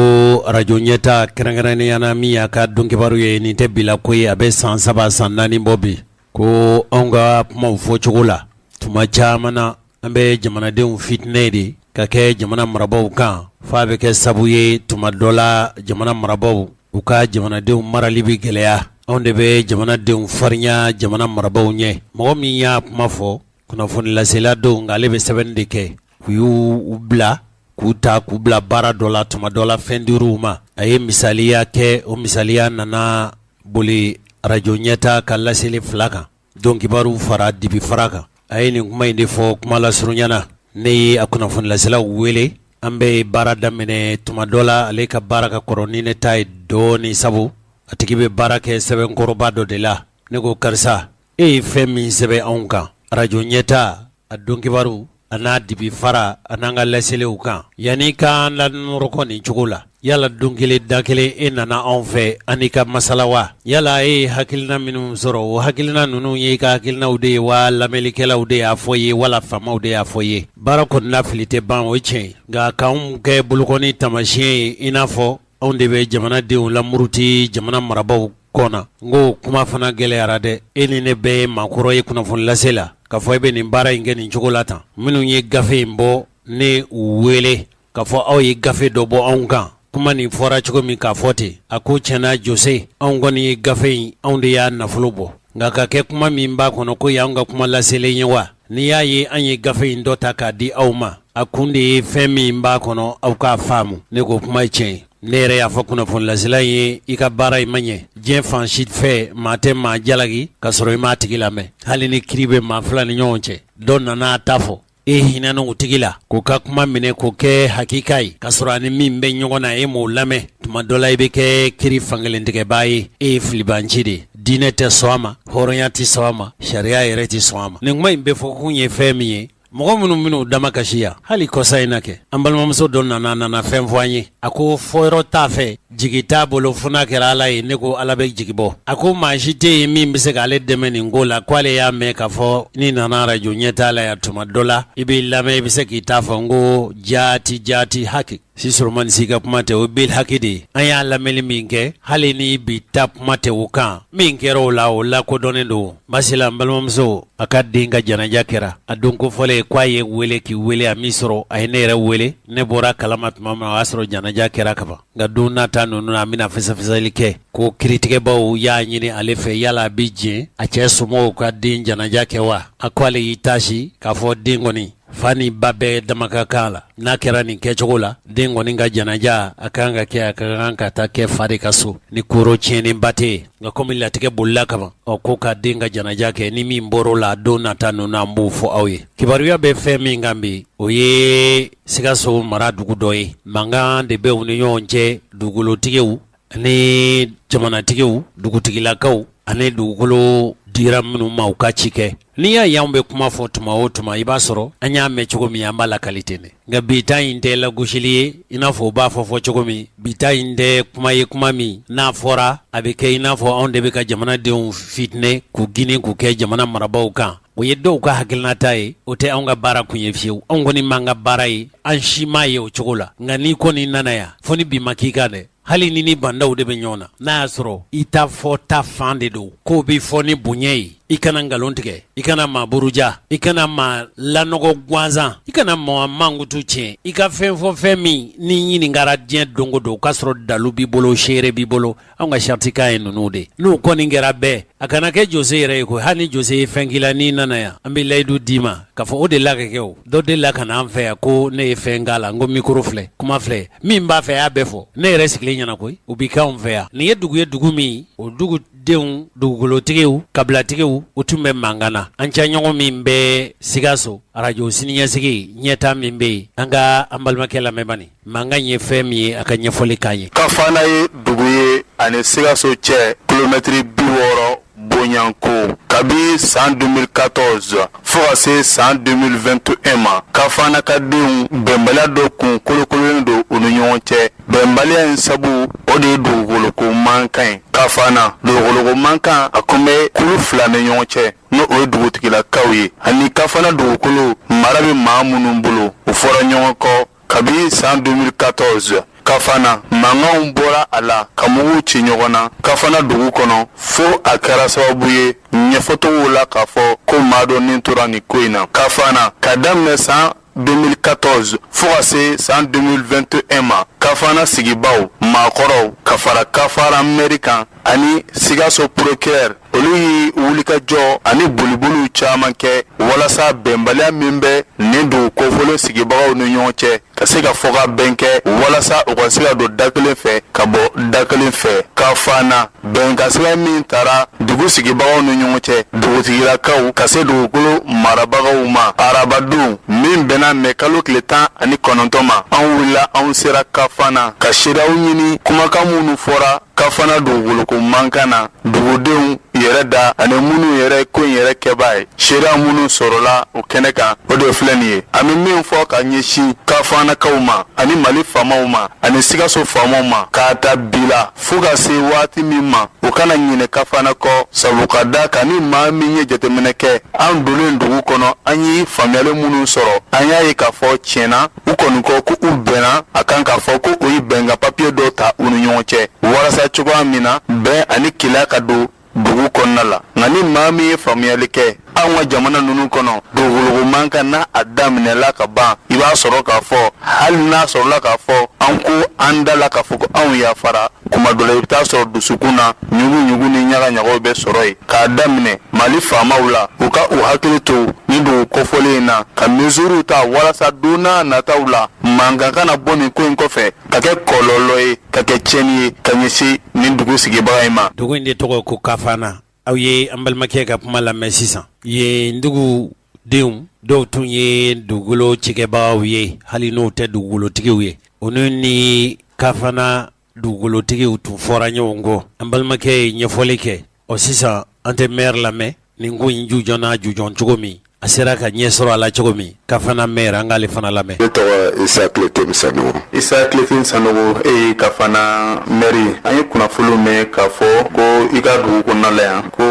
A: arajo ɲɛtaa kɛrɛnkɛrɛnnenya na min y'a ka don kibaru ye nin tɛ bi la ko ye a bɛ san saba san naani bɔ bi ko an ka kumaw fɔ cogo la tuma caman na An bɛ jamanadenw fitinɛ de ka kɛ jamana marabagaw kan f'a bɛ kɛ sabu ye tuma dɔ la jamana marabagaw u ka jamanadenw marali bɛ gɛlɛya anw de bɛ jamanadenw farinya jamana marabagaw ɲɛ mɔgɔ min y'a kuma fɔ kunnafoni lasela don nka ale bɛ sɛbɛnni de kɛ u y'u bila k'u ta k'u bila baara dɔ la tuma dɔ la fɛn dir'u ma a ye misaliya kɛ o misaliya nana boli arajo ɲɛtaa ka laseli fila kan Don kibaru fara dibi fara kan a ye nin kuma in de fɔ kuma lasurunya na ne ye a kunnafoni lasela wele an bɛ baara daminɛ tuma dɔ la ale ka baara ka kɔrɔ ni ne ta ye dɔɔnin sabu a tigi bɛ baara kɛ sɛbɛnkɔrɔba dɔ de la ne ko karisa e ye fɛn min sɛbɛn anw kan arajo ɲɛtaa a don kibaru A n'a dibi fara a n'an ka laseliw kan yanni k'an lanɔrɔkɔ nin cogo la yala don kelen da kelen e nana anw fɛ an n'i ka masala wa yala e ye hakilina minnu sɔrɔ o hakilina ninnu ye i ka hakilinaw de ye wa lamɛnlikɛlaw de y'a fɔ ye wala faamaw de y'a fɔ ye baara kɔni na fili tɛ ban o ye tiɲɛ nka k'an kɛ bolokɔni taamasiyɛn ye i n'a fɔ Anw de bɛ jamanadenw lamuruti jamana marabagaw kɔ na n k'o kuma fana gɛlɛyara dɛ e ni ne bɛɛ ye maakɔrɔ ye kunnafoni lase la k'a fɔ e bɛ nin baara in kɛ nin cogo la tan minnu ye gafe in bɔ ne y'u wele k'a fɔ aw ye gafe dɔ bɔ anw kan kuma nin fɔra cogo min k'a fɔ ten a ko tiɲɛna jose anw kɔni ye gafe in anw de y'a nafolo bɔ nka ka kɛ kuma min b'a kɔnɔ k'o y'an ka kuma laselen ye wa N'i y'a ye an ye gafe in dɔ ta k'a di aw ma a kun de ye fɛn min b'a kɔnɔ aw k'a faamu ne k'o kuma ye tiɲɛ ne yɛrɛ y'a fɔ kunnafoni lasela ye i ka baara in ma ɲɛ diɲɛ fan si fɛ maa tɛ maa jalaki ka sɔrɔ i m'a tigi lamɛn hali ni kiri bɛ maa fila ni ɲɔgɔn cɛ dɔ nana a ta fɔ e hinɛna o tigi la k'o ka kuma minɛ k'o kɛ hakika ye ka sɔrɔ a ni min bɛ ɲɔgɔn na e m'o lamɛn tuma dɔ la i bɛ kɛ kiri fankelen tigɛbaa ye e ye filibanci de ye Diinɛ tɛ sɔn a ma hɔrɔnya tɛ sɔn a ma sariya yɛrɛ tɛ sɔn a ma nin kuma in bɛ fɔ kun ye fɛn min ye mɔgɔ minnu minnu damakasi yan hali kɔsa in na kɛ an balimamuso dɔ nana nana fɛn fɔ an ye a ko fɔyɔrɔ t'a fɛ jigi t'a bolo fo n'a kɛra Ala ye ne ko Ala bɛ jigi bɔ a ko maa si tɛ yen min bɛ se k'ale dɛmɛ nin ko la k'ale y'a mɛn k'a fɔ n'i nana arajo ɲɛtaa la yan tuma dɔ la i b'i lamɛn i bɛ se k'i ta fɔ n ko jaati jaati haki Si solomani si ka kuma tɛ o bil haki de an y'a lamɛnni min kɛ hali ni bi ta kuma tɛ o kan min kɛra o la o lakodɔnnen don masila an balimamuso a ka den ka janaja kɛra a don kofɔlen ye k'a y'i weele k'i weele a m'i sɔrɔ a ye ne yɛrɛ weele ne bɔra kalama tuma min na o y'a sɔrɔ janaja kɛra kaban nka don nata ninnu na an bɛna fɛsɛfɛsɛli kɛ ko kiritigɛbaw y'a ɲini ale fɛ yala a bɛ diɲɛ a cɛ somɔgɔw ka den janaja kɛ wa a ko ale y'i tasi k'a fɔ den kɔni fa ni ba bɛɛ dama ka kan a la n'a kɛra nin kɛcogo la den kɔni ka janaja a kan ka kɛ a ka kan ka taa kɛ fa de ka so ni koro tiɲɛnen ba tɛ yen nka komi latigɛ bolila kaban ɔ ko ka den ka janaja kɛ ni min bɔr'o la don nata ninnu an b'o fɔ aw ye kibaruya bɛ fɛn min kan bi o ye sikaso mara dugu dɔ ye mankan de bɛ u ni ɲɔgɔn cɛ dugukolotigiw Ani jamanatigiw dugutigilakaw ani dugukolo dira minnu ma u ka ci kɛ n'i y'a y'anw bɛ kuma fɔ tuma o tuma i b'a sɔrɔ an y'a mɛn cogo min an b'a lakali ten dɛ nka bi ta in tɛ lagosili ye i n'a fɔ u b'a fɔ fɔ cogo min bi ta in tɛ kuma ye kuma min n'a fɔra a bɛ kɛ i n'a fɔ anw de bɛ ka jamanadenw fitinɛ k'u ginin k'u kɛ jamana marabaw kan o ye dɔw ka hakilinata ye o tɛ anw ka baara kun ye fiyewu anw kɔni m'an ka baara ye an si m'a ye o cogo la nka n'i kɔni nana yan fo ni bi ma k'i kan dɛ hali n'i ni bandaw de bɛ ɲɔgɔn na n'a y'a sɔrɔ i ta fɔta fan de don k'o bɛ fɔ ni bonya ye i kana nkalon tigɛ i kana maa buruja i kana maa lanɔgɔ gansan i kana maa mankutu tiɲɛ i ka fɛn fɔ fɛn min n'i ɲininkara diɲɛ don o don k'a sɔrɔ dalu b'i bolo seere b'i bolo anw ka saratikan ye ninnu de n'u kɔni kɛra bɛɛ a kana kɛ jose yɛrɛ ye ko hali ni jose ye fɛn k'i la n'i nana yan an bɛ layidu d'i ma k'a fɔ o delila ka kɛ u dɔ delila ka na an fɛ yan ko ne ye fɛn k'a la n ko mikoro filɛ kuma filɛ min b'a fɛ a y'a bɛɛ fɔ ne yɛrɛ sigilen ɲɛna koyi o bɛ kɛ anw fɛ yan nin ye dugu ye dugu min o dugudenw dugukolotigiw kabilatigiw u tun bɛ mankan na an cɛɲɔgɔn min bɛ sikaso arajo siniɲɛsigi ɲɛta min bɛ yen an ka an balimakɛ lamɛn bani Mankan ye fɛn min ye a ka ɲɛfɔli k'an ye kafana ye
D: dugu ye ani sikaso cɛ kilomɛtiri bi wɔɔrɔ bɔɲɔgɔnko kabi san 2014 fo ka se san 2021 ma kafana ka denw bɛnbaliya dɔ kun kolokololen don u ni ɲɔgɔn cɛ bɛnbaliya in sabu o de ye dugukoloko mankan ye kafana dugukoloko mankan a kun bɛ kulu fila ni ɲɔgɔn cɛ n'o ye dugutigilakaw ye ani kafana dugukolo mara bɛ maa minnu bolo u fɔra ɲɔgɔn kɔ kabi san 2014 kafana mankanw bɔra a la ka muguw ci ɲɔgɔn na kafana dugu kɔnɔ fo a kɛra sababu ye ɲɛfɔtogow la k'a fɔ ko maa dɔ nin tora nin ko in na kafana ka daminɛ san 2014 fo ka se san 2021 ma kafana sigibaw maakɔrɔw ka fara kafana mɛri kan ani sikaso procureur olu ye wulikajɔ ani boliboliw caman kɛ walasa bɛnbaliya min bɛ nin dugu kofɔlen sigibagaw ni ɲɔgɔn cɛ ka se ka fɔkabɛn kɛ walasa u ka se ka don da kelen fɛ ka bɔ da kelen fɛ kafana bɛnkan sira min tara dugu sigibagaw ni ɲɔgɔn cɛ dugutigilakaw ka se dugukolo marabagaw ma arabadon min bɛnna mɛ kalo tile tan ani kɔnɔntɔn ma an wulila anw sera kafana ka seereyaw ɲini kumakan minnu fɔra kafana dugukoloko mankan na dugudenw yɛrɛ da ani minnu yɛrɛ ko in yɛrɛ kɛbaa ye seereya minnu sɔrɔla o kɛnɛ kan o de filɛ nin ye an bɛ min fɔ ka ɲɛsin kafanakaw ma ani mali faamaw ma ani sikaso faamaw ma k'a ta bi la fo ka se waati min ma u kana ɲinɛ kafana kɔ sabu ka da kan ni maa min ye jateminɛ kɛ an donnen dugu kɔnɔ an ye faamuyali minnu sɔrɔ an y'a ye k'a fɔ tiɲɛna u kɔni ko ko u bɛnna a kan k'a fɔ ko u ye bɛnkan papiye dɔ ta u ni ɲɔgɔn cɛ walasa cogoya min na bɛn ani kelenya ka don dugu kɔnɔna la nka ni maa min ye faamuyali kɛ anw ka jamana ninnu kɔnɔ dugukoloko mankan n'a a daminɛla ka ban i b'a sɔrɔ k'a fɔ hali n'a sɔrɔla k'a fɔ an ko an da la k'a fɔ ko anw yafara kuma dɔ la i bɛ t'a sɔrɔ dusukun na ɲuguɲugu ni ɲagaɲagaw bɛ sɔrɔ yen k'a daminɛ mali faamaw la u ka u hakili to nin dugu kofɔlen in na ka mesuriw ta walasa don n'a nataw la mankan kana bɔ nin ko in kɔfɛ ka kɛ kɔlɔlɔ ye ka kɛ tiɲɛni ye ka ɲɛsin nin dugu sigibaga in ma dugu in de tɔgɔ
A: ko kafana aw ye an balimakɛ ka kuma lamɛn sisan yen dugudenw dɔw tun ye dugukolo cikɛbagaw ye hali n'u tɛ dugukolotigiw ye olu ni kafana dugukolotigiw tun fɔra ɲɔgɔn kɔ an balimakɛ ye ɲɛfɔli kɛ ɔ sisan an tɛ mɛri lamɛn nin ko in jujɔnna jujɔn cogo min a sera ka ɲɛ sɔrɔ a la cogo min kafana mɛri an k'ale fana
D: lamɛn isa kiletɛm sanɔgɔ e ye kafana mɛri an ye kunnafoni mɛn k'a fɔ ko i ka dugu kɔnɔnala yan ko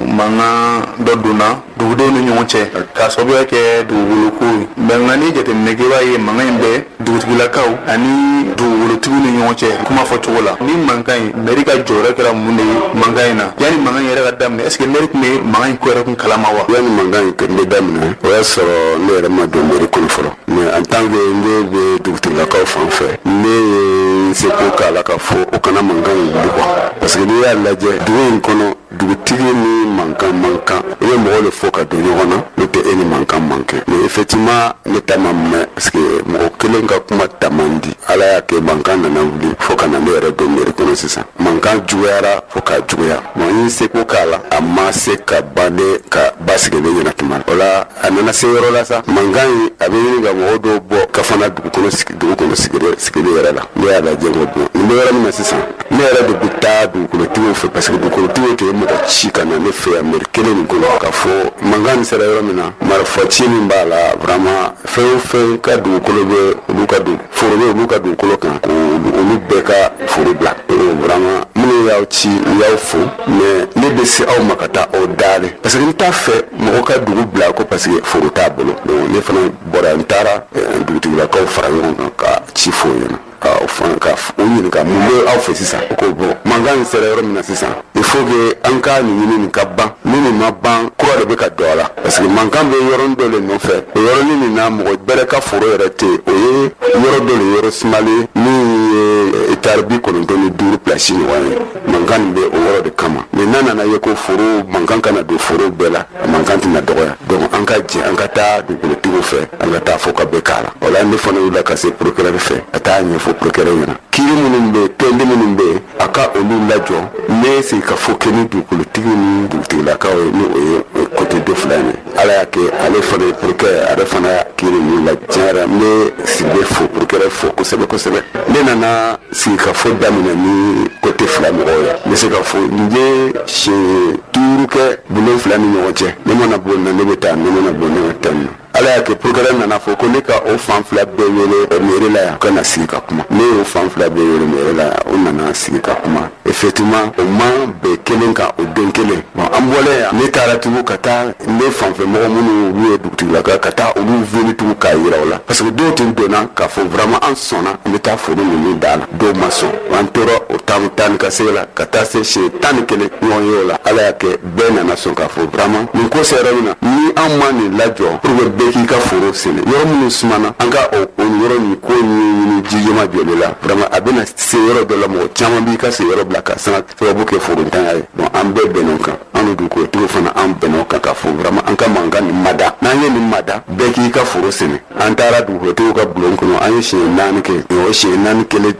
D: mankan dɔ donna dugudenw ni ɲɔgɔn cɛ k'a sababuya kɛ dugukolo ko ye nka ni jateminɛ kɛ i b'a ye mankan in bɛ dugutigilakaw ani dugukolotigiw ni ɲɔgɔn cɛ kuma fɔ cogo la nin mankan in mɛri ka jɔyɔrɔ kɛra mun de ye mankan in na yanni mankan yɛrɛ ka daminɛ est ce que mɛri tun bɛ mankan in ko yɛrɛ kun kalama wa yanni mankan in bɛ daminɛ o y'a sɔrɔ ne yɛrɛ ma don mɛri kɔnɔ fɔlɔ mais en tant que ne bɛ dugutigilakaw fan fɛ ne ye n seko k'a la k'a fɔ o kana mankan in wuli quoi parce que n'i y'a lajɛ dugu in kɔnɔ dugutigi ni mankan man kan i bɛ mɔgɔw de fɔ ka don ɲɔgɔn na n'o tɛ e ni mankan man kan mais effectivement ne ta ma mɛn parce que mɔgɔ kelen ka kuma ta man di ala y'a kɛ mankan nana wuli fo ka na ne yɛrɛ don meri kɔnɔ sisan mankan juguyara fo k'a juguya bon n ye seko k'a la a ma se ka ban ne ka basigi ne ɲɛna tuma o la a nana se yɔrɔ la sa mankan in a bɛ ɲini ka mɔgɔ dɔw bɔ kafana dugu kɔnɔ sigi dugu kɔnɔ sigili yɛrɛ la ne y'a lajɛ ko bon nin bɛ yɔrɔ min na sisan ne yɛrɛ de bɛ taa dugukolotigiw fɛ parce que dugukolotigiw tɛ mɔgɔ ci ka na ne fɛ yan mɛri kelen nin kɔnɔ k'a fɔ mankan nin sera yɔrɔ min na marifa ci min b'a la vraiment fɛn o fɛn ka dugukolo bɛ olu ka dun foro bɛ olu ka dugukolo kan ko olu bɛɛ ka foro bila vraiment minnu y'aw
E: ci u y'aw fo mais ne bɛ se aw ma ka taa aw daale parce que n t'a fɛ mɔgɔ ka dugu bila ko parce que foro t'a bolo donc ne fana bɔra n taara dugutigilakaw fara ɲɔgɔn kan ka ci f'o ɲɛna o fana ka o ɲininka mun bɛ aw fɛ sisan ko bon mankan in sera yɔrɔ min na sisan il faut que an ka nin ɲini nin ka ban ni nin ma ban kura de bɛ ka don a la parce que mankan bɛ yɔrɔnin dɔ de nɔfɛ o yɔrɔnin nin na mɔgɔ bɛrɛ ka foro yɛrɛ tɛ yen o ye yɔrɔ dɔ de yɔrɔ sumalen min ye etari bi kɔnɔntɔn ni duuru pilasi ɲɔgɔn ye mankan nin bɛ o yɔrɔ de kama mais n'a nana ye ko foro mankan kana don foro bɛɛ la mankan tɛna dɔgɔya donc an ka jɛ an ka taa dugukolotigiw fɛ an ka taa fɔ ka bɛn k'a la o la ne fana wulila ka se procureur fɛ ka taa ɲɛfɔ procureur ɲɛna kiri minnu bɛ tɔndi minnu bɛ a ka olu lajɔ ne sigi ka fɔ kɛ ni dugukolotigiw ni dugutigilakaw ye ni o ye côté de fila ye ala y'a kɛ ale fana ye procureur ale fana kiri ninnu la tiɲɛ yɛrɛ n bɛ sigilen fo procureur fo kosɛbɛ kosɛbɛ ne nana sigi ka fɔ daminɛ ni côté fila mɔgɔw ye n bɛ se ka fɔ n ye siɲɛ duuru kɛ bulon fila ni ɲɔgɔn cɛ ne mana bɔ na ne bɛ taa ne mana bɔ ne bɛ taa na ala y'a kɛ procureur nana fɔ ko ne ka o fan fila bɛɛ wele mairie la yan ka na sigi ka kuma ne y'o fan fila bɛɛ wele mairie la yan o nana sigi ka kuma effectivement o ma bɛn kelen kan o don kelen an bɔlen yan ne taara tugun ka taa ne fanfɛ mɔgɔ minnu olu ye dugutigilakaw ka taa olu wele tugun k'a jira u la parce que dɔw tun donna k'a fɔ vraiment an sɔnna an bɛ taa foro ninnu da la dɔw ma sɔn an tora o taa taa ni ka segi la ka taa se siɲɛ tan ni kelen ɲɔgɔn ye o la ala y'a kɛ bɛɛ nana sɔn k'a fɔ vraiment nin ko sera yɔrɔ min na ni an ma nin lajɔ pour que bɛɛ k'i ka foro sɛnɛ yɔrɔ minnu sumana an ka o o yɔrɔ nin ko ɲɛɲini jugement jɔlen la vraiment a bɛna se yɔrɔ dɔ la mɔgɔ caman b'i ka sigiyɔrɔ bila ka sa sababu kɛ forontanya ye bon an bɛɛ bɛnn'o kan an ni dugukolotigiw fana an bɛnn'o kan ka fɔ vraiment an ka mankan nin mada n'an ye nin mada bɛɛ k'i ka foro sɛnɛ an taara dugukolotigiw ka bulon kɔnɔ an ye siɲɛ naani kɛ nin o siɲɛ naani kɛlen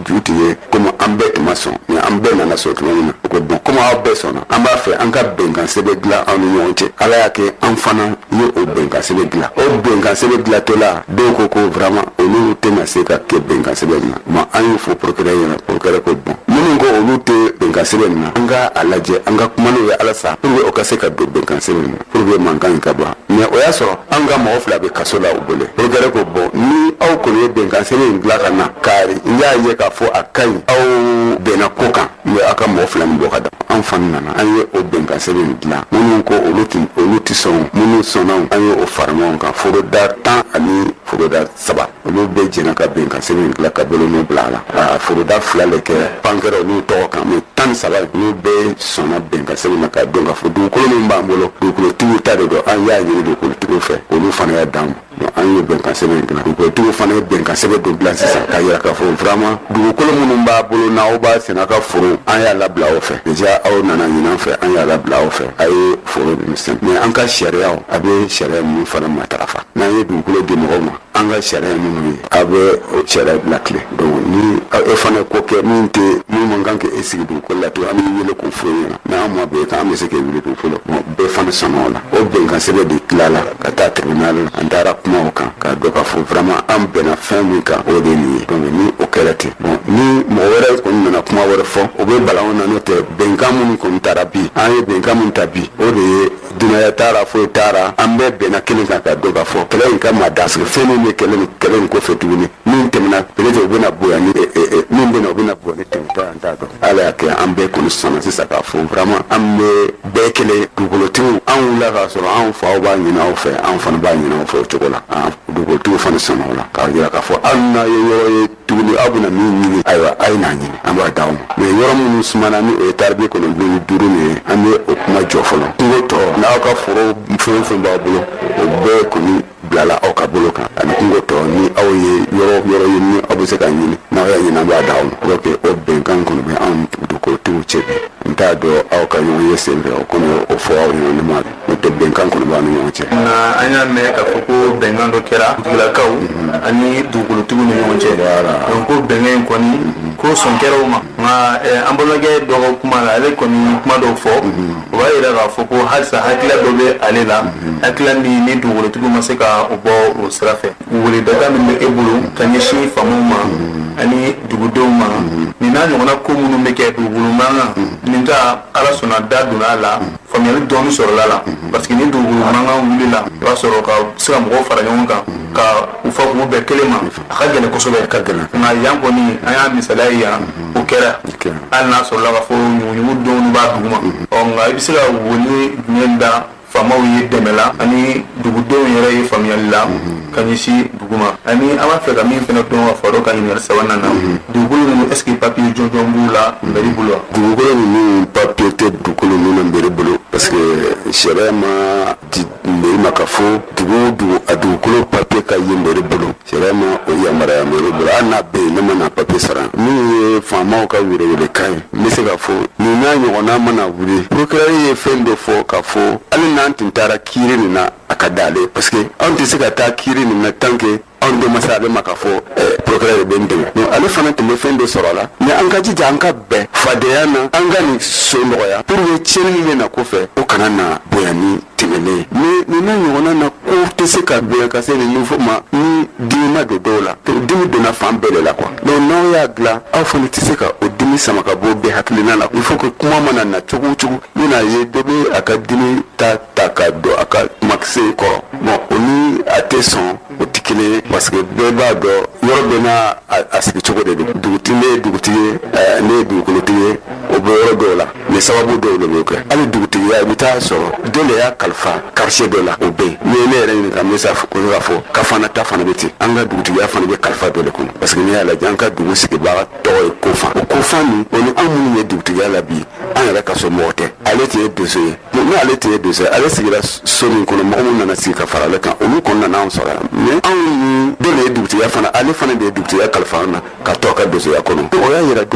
E: ju tun ye komi an bɛɛ tun ma sɔn mais an bɛɛ nana sɔn tuma min na o ko bon komi aw bɛɛ sɔnna an b'a fɛ an ka bɛnkan sɛbɛn dilan aw ni ɲɔgɔn cɛ ala y'a kɛ an fana ye o bɛnkan sɛbɛn dilan o bɛnkan sɛbɛn dilantɔla dɔw ko ko vraiment olu tɛna se ka kɛ bɛnkan sɛbɛn na ma an y'o fɔ procureur ɲɛna procureur ko bon minnu ko olu tɛ bɛnkan sɛbɛn na an ka a lajɛ an ka kuma n'o ye halisa pour que o ka se ka don bɛnkan sɛbɛn na pour que mankan in ka ban mais o y'a sɔrɔ an ka mɔgɔ fila bɛ kaso la u bolo procureur ko bon ni aw kɔni ye bɛnkan sɛbɛn in dilan ka na kari n y'a ye k'a fɔ a ka ɲi aw bɛnna ko kan n bɛ aw ka mɔgɔ fila nin bɔ ka da an fana nana an ye o bɛnkan sɛbɛn in dilan minnu ko olu tɛ olu tɛ sɔn minnu sɔnna an ye o fara ɲɔgɔn kan foroda tan ani foroda saba olu bɛɛ jɛnna ka bɛnkan sɛbɛn dilan ka bolonɔ bila a la ka foroda fila de kɛ pankɛrɛ n'u tɔgɔ kan mais tan ni saba n'u bɛɛ sɔnna bɛnkan sɛbɛn na k'a dɔn k'a fɔ dugukolo min b'an bolo dugukolotigiw ta de don an y'a ɲini dugukolotigiw fɛ olu fana y'a d'an ma an ye bɛnkan sɛbɛn dilan dugukolotigiw fana ye bɛnkan sɛbɛn dɔ dilan sisan k'a yira k'a fɔ vraiment dugukolo minnu b'aw bolo n'aw b'a sɛnɛ ka foro an y'a labila aw fɛ déjà aw nan'a ɲini an fɛ an y'a labila aw fɛ a ye foro ninnu sɛnɛ mais an ka sariyaw a bɛ sariya ninnu fana matarafa n'an ye dugukolo di mɔgɔw ma an ka sariya minnu ye a bɛ sariya latilen donc ni e fana ko kɛ min tɛ min man kan k'e sigi dugukolo la tugun an b'i wele k'o fɔ e ɲɛna mais n'an ma bɛn kan an bɛ se k'e wuli dugukolo kan bɛɛ fana sɔnna o la o bɛnkan sɛbɛn de tilala ka taa tribunal la an taara kuma o kan k'a dɔn k'a fɔ vraiment an bɛnna fɛn min kan o de ye nin ye donc ni o kɛra ten bon ni mɔgɔ wɛrɛ kɔni nana kuma wɛrɛ fɔ o bɛ bala anw na n'o tɛ bɛnkan minnu kɔni tara bi an ye bɛnkan min ta bi o de ye dunanya taara foyi taara an bɛɛ bɛnna kelen kan k'a dɔn k'a fɔ kɛlɛ in ka mada sigi fɛn min bɛ kɛlɛ ni kɛlɛ in kɔfɛ tuguni min tɛmɛna peut-être o bɛna bonya ni eh, eh, eh, min bɛna o bɛna bonya ni tɛmɛtɔ an t'a dɔn ala y'a kɛ an bɛɛ kɔni sɔnna sisan k'a fɔ vraiment an bɛ bɛɛ kelen dugukolotigiw an wulila k'a sɔrɔ anw faw b'a ɲini aw fɛ anw fana b'a ɲini aw fɛ o cogo la Ah, dugukolotigiw fana sɔnna o la k'a jira k'a fɔ hali n'a ye yɔrɔ ye tuguni aw bɛna min ɲini ayiwa a ye n'a ɲini an b'a d'aw ma mais yɔrɔ minnu sumana ni o ye taari bi kɔnɔntɔn ni duuru nin ye an bɛ o kuma jɔ fɔlɔ kungo tɔ n'aw ka foro fɛn o fɛn b'aw bolo o bɛɛ kɔni bilala aw ka bolo kan ani kungo tɔ ni aw ye yɔrɔ yɔrɔ ye ni aw bɛ se k'a ɲini n'aw y'a ɲini an b'a d'aw ma pour que o bɛnkan kɔni bɛ anw dugukolotigiw cɛ bi n t'a dɔn aw ka ɲɔgɔnye senfɛ o kɔni o fɔ aw ɲɛna ne ma o tɛ bɛnkan kɔni b'an ni ɲɔgɔn cɛ nka an y'a mɛn
D: k'a fɔ ko bɛnkan dɔ kɛra dugulakaw ani dugukolotigiw ni ɲɔgɔn cɛ Voilà. donc ko bɛnkan in kɔni ko sɔn kɛra o ma nka eh, an balimakɛ dɔ ka kuma la ale kɔni ye kuma dɔw fɔ o b'a yira k'a fɔ ko halisa hakilila dɔ bɛ ale la hakilila min ni dugukolotigiw ma se ka o bɔ o sira fɛ wele data min bɛ e bolo ka ɲɛsin faamaw ma ani dugudenw ma nin n'a ɲɔgɔnna ko minnu bɛ kɛ dugukolo mankan nin ta ala sɔnna da donna a la Faamuyali dɔɔnin sɔrɔla a la parce que ni dugukolo mankan wilila i b'a sɔrɔ ka se ka mɔgɔw fara ɲɔgɔn kan ka u fɔ k'u bɛn kelen ma a ka gɛlɛn kosɛbɛ ka gɛlɛn nka yan kɔni an y'a misaliya ye yan o kɛra hali n'a sɔrɔla k'a fɔ ɲuguɲugu dɔw b'a duguma ɔ nka i bɛ se ka wele jumɛn da faamaw ye dɛmɛ la ani dugudenw yɛrɛ ye faamuyali la ka ɲɛ duguma ani an b'a fɛ ka min fana dɔn ka fara o kan ɲininkali sabanan na mhm. dugukolo ninnu est-ce que papiye jɔnjɔn b'u la mɛri mhm. bolo wa dugukolo ninnu
E: papiye tɛ dugukolo ninnu mɛri bolo parce que sariya m'a di mɛri ma k'a fɔ dugu o dugu a dugukolo papiye ka ye mɛri bolo sariya ma o yamaruya mɛri bolo hali n'a bɛ yen ne ma na papiye sɔrɔ min ye faamaw ka welewelekan ye n bɛ se k'a fɔ nin n'a ɲɔgɔnna mana wuli procureur ye fɛn dɔ fɔ k'a fɔ hali n'an tun taara kiiri nin na a ka da ale parce que anw tɛ se ka taa kiri nin na tant que anw de ma se ale ma k'a fɔ eh, procureur bɛ n dɛmɛ donc ale fana tun bɛ fɛn dɔ sɔrɔ a la mais an ka jija an ka bɛn fadenya na an ka nin so nɔgɔya pour que tiɲɛni min bɛ na kɔfɛ o kana na bonya ni tɛmɛnen ye mais nin n'a ɲɔgɔnna na ko tɛ se ka bonya ka se nin niveau ma ni dimi ma don dɔw la dimi donna fan bɛɛ de la quoi donc n'aw y'a dilan aw fana tɛ se ka o dimi sama ka bɔ bɛɛ hakilina la il faut que kuma mana na cogo o cogo i bɛna ye dɔ bɛ a ka dimi ta ta ka don a ka kumakisɛ in kɔrɔ bon o ni a tɛ sɔn o tɛ kelen ye parce que bɛɛ b'a dɔn yɔrɔ bɛɛ n'a a sigi cogo de don dugutigi ne ye dugutigi ye eh, ne ye dugukolotigi ye o bɛ yɔrɔ dɔw la mais sababu dɔw de b'o kɛ hali dugutigiya i bɛ taa sɔrɔ dɔ de y'a kalifa quartier dɔ la o bɛ yen n'i ye ne yɛrɛ ɲininka n bɛ se kɔni k'a fɔ kafana ta fana bɛ ten an ka dugutigiya fana bɛ kalifa dɔ de kɔnɔ parce que n'i y'a lajɛ an ka dugu sigibaga tɔgɔ ye kofan o kofan nin o ni anw minnu ye dugutigiya la bi an yɛrɛ ka so mɔgɔ tɛ ale tun ye donso ye ni ale tun ye donso ye ale sigira so min kɔnɔ mɔgɔ minnu nana sigi ka fara ale kan olu kɔni nana an sɔrɔ yan mais anw ni dɔ de ye dugutigiya fana ale fana de ye dugutigiya kalifa an na ka to a ka donsoya kɔnɔ o y'a yira